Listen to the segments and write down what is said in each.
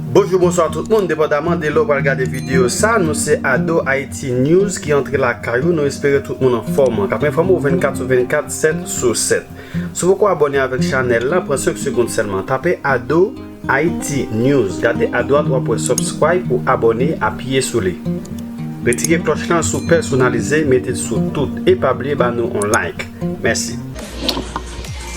Bonjou, bonswa tout moun, depandaman de lè ou pral gade videyo sa, nou se Ado Haïti News ki antre lakay ou, nou espere tout moun anfòm. Kap enfòme ou 24 sou 24, 7 sou 7. Si w poko abòne avèk chanèl la, pran 5 segonn sèlman, tape Ado. Haïti News gade adwat wap wè subscribe ou abone apiye sou li retire klòch lan sou pèsonalize metel sou tout e pa bliye ba nou on like mèsi.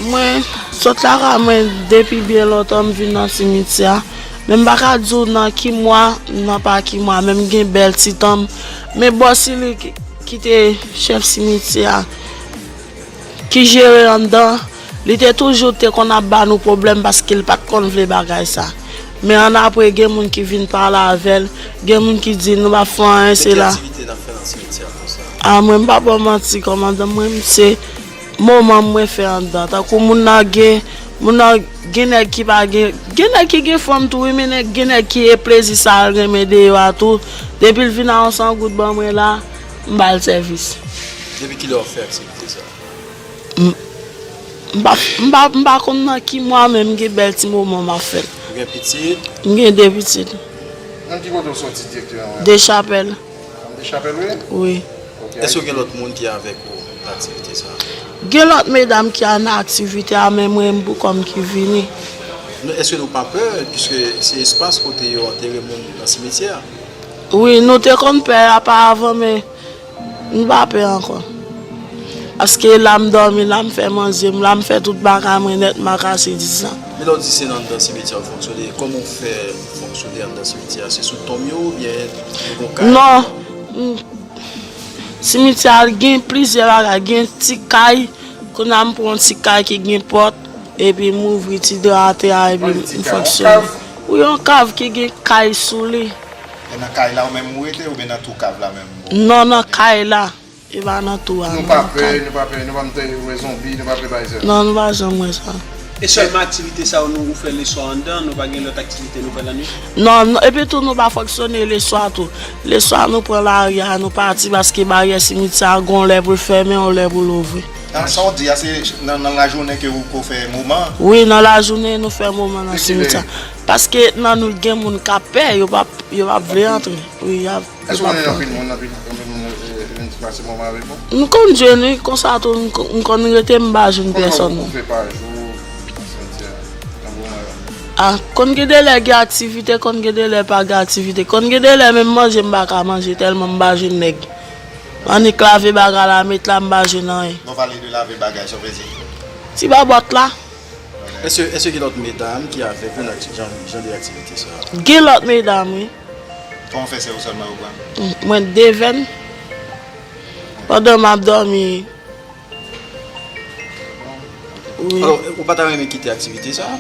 Mwen sot lakay mwen depi byen lontan m vin nan simityè a men m pa ka di w nan ki mwa nan pa ki mwa men m gen bèl ti tan m men bò si li ki te chèf simityè a ki jere anndan Li te toujou te konn ap ba nou pwoblèm paske l pat konn vle bagay sa. Men annapre gen moun ki vin pale avè l, gen moun ki di l nou pa fè anyen se la. A mwen m pa ba w manti kòmandan mwen m se moman m mwen fè anndan tankou moun nan gen moun nan gen nèg ki pa gen gen nèg ki gen fanm tou wi men nèg gen nèg ki e plezi sa l renmen deyò a tou depi l vin a yon san goud ban mwen la m ba l sèvis. Depi kilè w fè aksepte sa? M pa konn nan ki mwa men m gen bèl ti moman m ap fè l. Ou gen pitit? M gen 2 pitit. Nan ki kote ou soti direkteman menm? Dechapèl. Nan Dechapèl ou ye? Wi. Ok. Èske gen lòt moun ki avèk ou nan aktivite sa a? Gen lòt medam ki nan aktivite a men mwen m pou kò m ki vini. Èske nou pa pè piske se espas kote yo antere moun nan simityè a? Wi, nou te konn pè a pa avan men. M pa pè ankò. Paske la m dòmi, la m fè manje m, la m fè tout bagay mwen nèt m ak Asidis la. Men lè w di se nan anndan simetyè ou fonksyone, kòman ou fè fonksyone anndan simetyè a? Se sou tonm yo oubyen yo gen yon kay? Non. Simetyè a l gen plizyè bagay. Gen ti kay, kounye a m pran yon ti kay ki gen pòt, epi m ouvri ti dra atè a epi m fonksyone. Wi yon kav ki gen kay sou li. E nan kay la ou menm ou rete oubyen nan twou kav la menm? Non nan kay la e pa nan tou a. Nou pa pè nou pa pè nou pa mtè wè zonbi nou pa pè bay zè. Non nou pa janm wè sa. E sèlman aktivite sa yo nou ou fè leswa andan nou pa gen lòt aktivite nou fè lannwit? Non epi tou nou pa fonksyone leswa tou leswa nou pran lari a nou pati paske baryè simityè a gon lè poul fèmen yon lè poul ouvri. Nan sa ou di a se nan lajounen ke ou ko fè moman? Wi nan lajounen nou fè moman nan simityè a paske nan nwit gen moun kap pè yo pap yo pap vle antre wi yap. Eske wap tande. Eske w gen anpil moun anpil moun vin ti pase moman avek ou? M konn jwenn wi konsa tou m konn rete m pa jwenn pèsòn. Konbyen ou fè pa jou nan simtyè nan moman yo? Ah konn gen de lè gen aktivite konn gen de lè pa gen aktivite konn gen de lè menm manje m pa ka manje tèlman m pa jwenn nèg. Annik lave bagay la met la m pa jwenn anyen. Bon pale de lave bagay sa w vle di. Ti babòt la. Eske gen lòt medam ki avèk ou nan jan de aktivite sa? Gen lòt medam wi. Kòman fè sè ou sèlman yo pran? Mwen devèn pandan map dòmi wi. Alò ou pa ta renmen kite aktivite sa?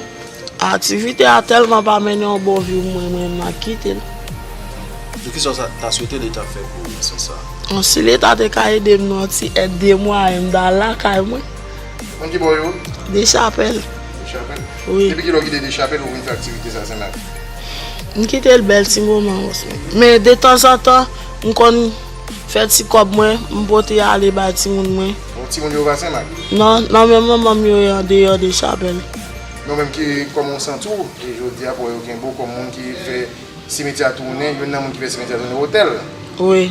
Aktivite a tèlman pa mennen yon bon vi pou mwen mwen ma kitel. Epi kisa ou ta swete leta fè pou ou nan sans sa? Si leta te ka edem nan ti èd de mwayen m ta al lakay mwen. Moun ki bo yo? Dechapèl. Dechapèl? Wi. Depi ki lè ou kite Dechapèl ou vin fè aktivite sa Senmak? M kite l bèl ti moman wè Senmak. Men detanzantan, m konn fè ti kòb mwen, m pote ale bay timoun mwen. Bon, timoun yo pa Senmak? Non, nan men manman m yo ye andeyò Dechapèl. Men ou menm ki, kòman ou santi w e jodi a pou wè yo gen bo kòm moun ki fè simetyè a tounen, youn nan moun ki fè simetyè a tounen otèl? Wi.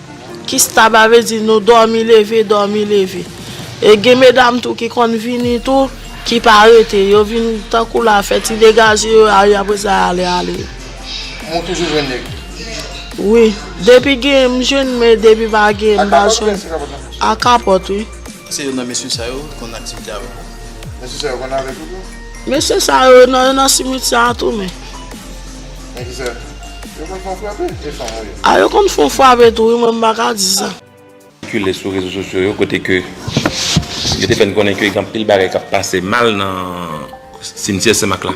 Kistaba vle di nou dòmi leve dòmi leve e gen medam tou ki konn vini tou ki pa rete yo vin tankou la fè ti degaje yo ale apre sa ale ale. Men ou toujou jwenn nèg? Wi depi gen m jwenn men depi pa gen m pa jwenn. A kapòt wi. Se youn nan mesye sa yo konn aktivite avèk ou? Mesye sa yo konn avèk ou tou? Mesye sa yo nan simitye a tou men. Ah yo konn fon fwape tou wi mwen m pa ka di sa. kile sou rezo sosyo yo kote ke yo te fè n konnen ke gen anpil bagay k ap pase mal nan simityè Senmak la.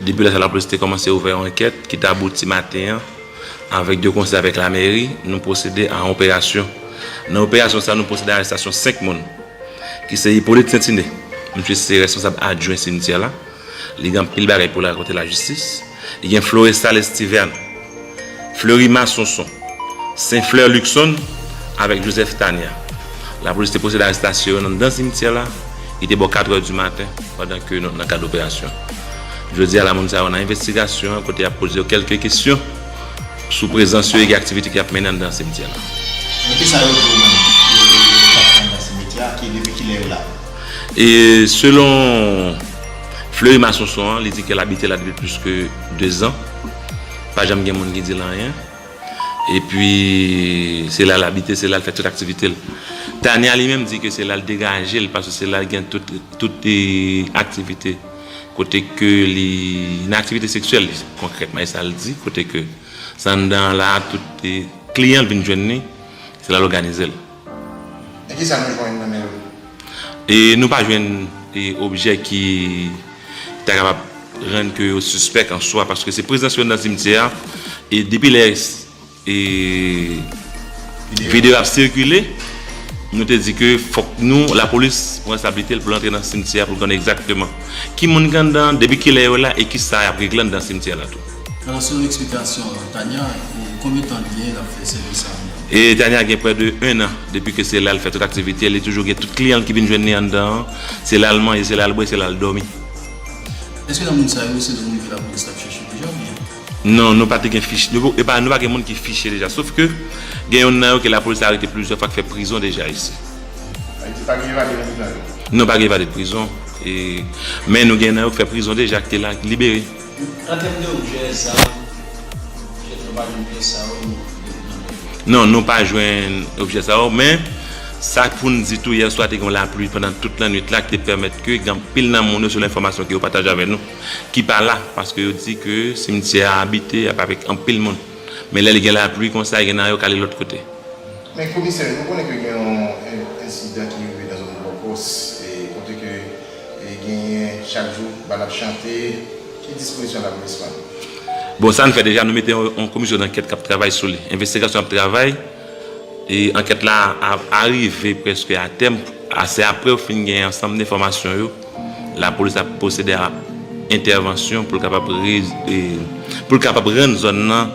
Depi lè sa lapolis te kòmanse ouvè yon ankèt ki te abouti maten an avèk de konsè avèk lamèri nou pwosede a yon operasyon. Nan operasyon sa nou pwosede a arestasyon 5 moun ki se Hyppolite Saint-Iné, misye se responsab adjwen simityè la, Li gen anpil bagay pou l rakonte lajistis. Li gen Florestal Estiverne, Fleury Massonson, St-Fleur Luckson avèk Joseph Tania. Lapolis te pwosede arestasyon yo nan anndan simityè la. Li te bò katrè di maten pandan ke nou nan kad operasyon. Jodi a la moun sa yo nan envestigasyon an kote y ap poze yo kèlke kesyon sou prezans yo ege aktivite ke y ap mennen anndan simityè la. Men kisa yo di w menm? Yo te anba simityè a? Depi kilè yo la? E selon Fleury Masonson an, li di ke l abite la depi plis ke 2 zan. Pa janm gen moun ki di l anyen. E pi, se la l abite, se la l fè tout aktivite l. Tania li menm di ke se la l degaje l paske se la l gen tout aktivite kote ke li, nan aktivite seksyèl li konkrètman e sa l di kote ke se anndan an la a tout kliyan l vin jwenn li, se la l òganize l. E ki sa nou jwenn nan men yo? E nou pa jwenn objè ki ta kapab rann ke yo sispèk an swa paske se prezans yo nan simityè a e depi lè e videyo ap sikile nou te di ke fòk nou lapolis pran reskonsabilite l pou l antre nan simityè a pou l konnen egzakteman ki moun ki anndan, depi ki lè yo la e ki sa y ap regle anndan simityè la tou. Alò selon eksplikasyon Tania, konbyen tan li gen lap fè sèvis sa anndan? E Tania gen prè de 1 an depi ke se la l fè tout aktivite l, li toujou gen tout kliyan l ki vin jwenn li anndan an, se la l manje, se la l bwè, se la l dòmi. Eske nan moun sa yo se moun ke lapolis tap chèche deja oubyen? Non, nou pa te gen fich, e pa nou pa gen moun ki fiche deja, sof ke gen yonn nan yo ke lapolis te arete plizyè fwa k fè prizon deja isi. Ayiti pa gen evade nan prizon yo? Non pa gen evade prizon, e men nou gen nan yo k fè prizon deja k te la, k libere. An tèm de objè, zam, jèt nou pa jwenn pyès sa yo nan men yo. Non, nou pa jwenn objè sa yo, men sa pou n di tou yèswa te gen yon lapli pandan tout lannwit la ki te pèmèt ke gen anpil nan moun yo selon enfòmasyon ke yo pataje avè nou ki pa la paske yo di ke simityè a abite ap avèk anpil moun men lè li gen lapli konsa gen nan yo k ale lòt kote. Men komisè, nou konnen ke gen yon ensidan ki rive nan zòn Bòkòs kote ke E genyen chak jou ba nap chante ki dispozisyon nap gen swen. Bon sa n fè deja nou mete yon komisyon dankèt kap travay sou li envestigasyon ap travay e ankèt la ap arive prèske a tèm a se aprè yo fin gen ansanm de enfòmasyon yo lapolis ap pwosede a entèvansyon pou l kapab pou l kapab rann zòn nan.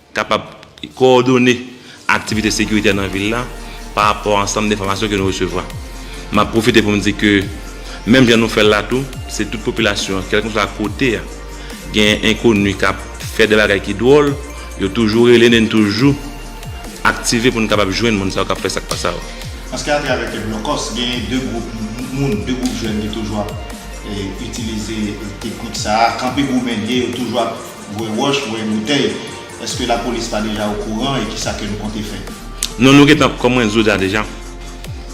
Kapab kowòdone aktivite sekiritè nan vil la pa rapò a ansanm denfòmasyon ke nou resevwa. M ap pwofite pou m di ke menm jan nou fè l la tou, se tout popilasyon an, kèlkeswa kote a, genyen enkoni k ap fè de bagay ki dwòl, yo toujou rele n e n toujou aktive pou n kapab jwenn moun sa yo k ap fè sa k pa sa yo. Paske atravè ke Blòkòs genyen de gwoup moun, de gwoup jèn ki toujou ap itilize teknik sa a, kanpe goumen lye, yo toujou ap. Voye wòch, voye boutèy. Eske la polis pa deja o kouran e kisa ke nou konte fè? Non nou gentan kòm mwen zoda deja.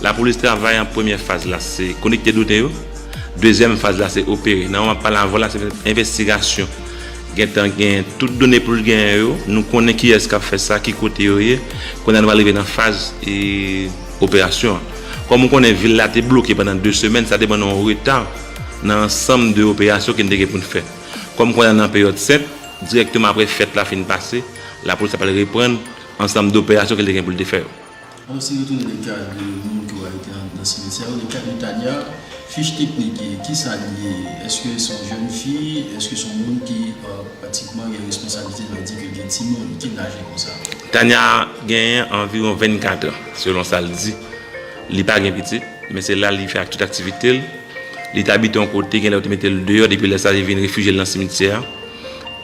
La polis travay an premyè faz la se konekte dote yo. Dezyèm faz la se opere. Nan moman pale avèw la se fè envestigasyon. Gentan gen tout done pou l genyen yo. Nou konnen kiyès kap fè sa, ki kote yo ye. Kounya nou pral rive nan faz e operasyon an. Kòm ou konnen vil la te bloke pandan 2 semèn sa te ban nou an reta nan ansanm de operasyon ke n te gen pou n fè. Kòm kounye a nan peryòd fèt, dirèkteman aprè fèt la fin pase, lapolis la pral reprann ansanm doperasyon ke li te gen pou li te fè yo. Ann si retounen nan ka moun ke w arete anndan simetyè yo, nan ka de Tania, fich teknik ki ki sa li ye? Eske se yon jèn fi? Eske se yon moun ki pratikman gen responsablite nan di ke l gen timoun? Ki laj li konsa? Tania genyen anviwon 24 an, selon sa l di. Li pa gen pitit, men se la li fè ak tout aktivite l. Li te abite yon kote, genlè yo te mete l deyò, depi lè sa li vin refijye l nan simityè a.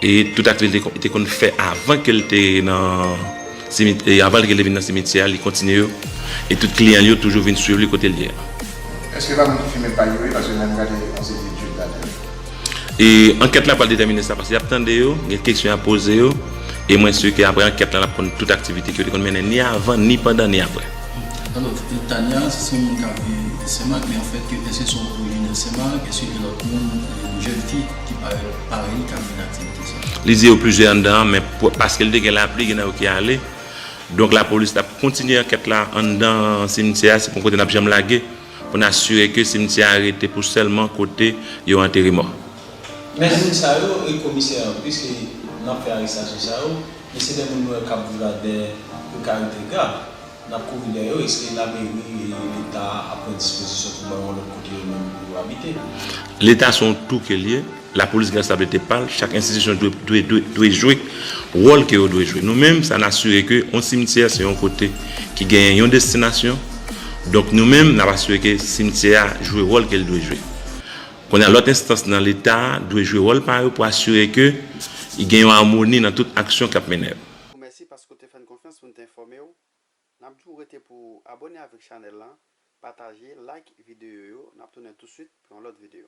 E tout aktivite li te konn fè avan ke l te nan simityè, avan ke l te vin nan simityè a, li kontinye yo. E tout kliyan li yo toujou vin swiv li kote l ye a. Eske pa moun ki fimen pay yo ye paske lèm gade yon seri etid ladann. E ankèt la pral detèmine sa paske y ap tande yo, gen kesyon y ap poze yo e mwen si ke aprè ankèt la n ap konn tout aktivite ke yo te konn mennen ni avan, ni pandan, ni aprè. Alòs, Tania, se yon moun k ap viv Senmak men anfèt ke èske se yon orijinè Senmak? Èske gen lòt moun, jèn fi ki parèt parèy li k ap mennen aktivite sa yo? Li di yo plizyè anndan an men paske li te gen lapli gen nan yo ki ale. Donk lapolis t ap kontinye ankèt la anndan simtyè a, se pa yon kote n ap janm lage. pou n asire ke simtyè a rete pou sèlman kote yo antere mò. Men moun sa yo e komisè an pwiske nap fè arestasyon sa yo men se de moun nou wè kap viv a dè prekarite grav nap kouri dèyè yo eske lameri e leta a ap pran dispozisyon pou bay yon lòt kote yo menm pou yo abite. Leta se yon touke l ye. Lapolis gen responsablite pa l, chak enstitisyon dwe jwe wòl ke yo dwe jwe. Nou menm sa n asire ke yon simityè se yon kote ki genyen yon destinasyon, donk nou menm n ap asire ke simityè a jwe wòl ke l dwe jwe. Kounye a lòt enstans nan leta dwe jwe wòl pa yo pou asire ke gen yon amoni nan tout aksyon k ap mennen yo. Mèsi paske w te fè n konfyans pou n te enfòme w. Nap diw rete pou ou abone avek chanel lan pataje like video yo nap tounen tou swit pou yon lot video.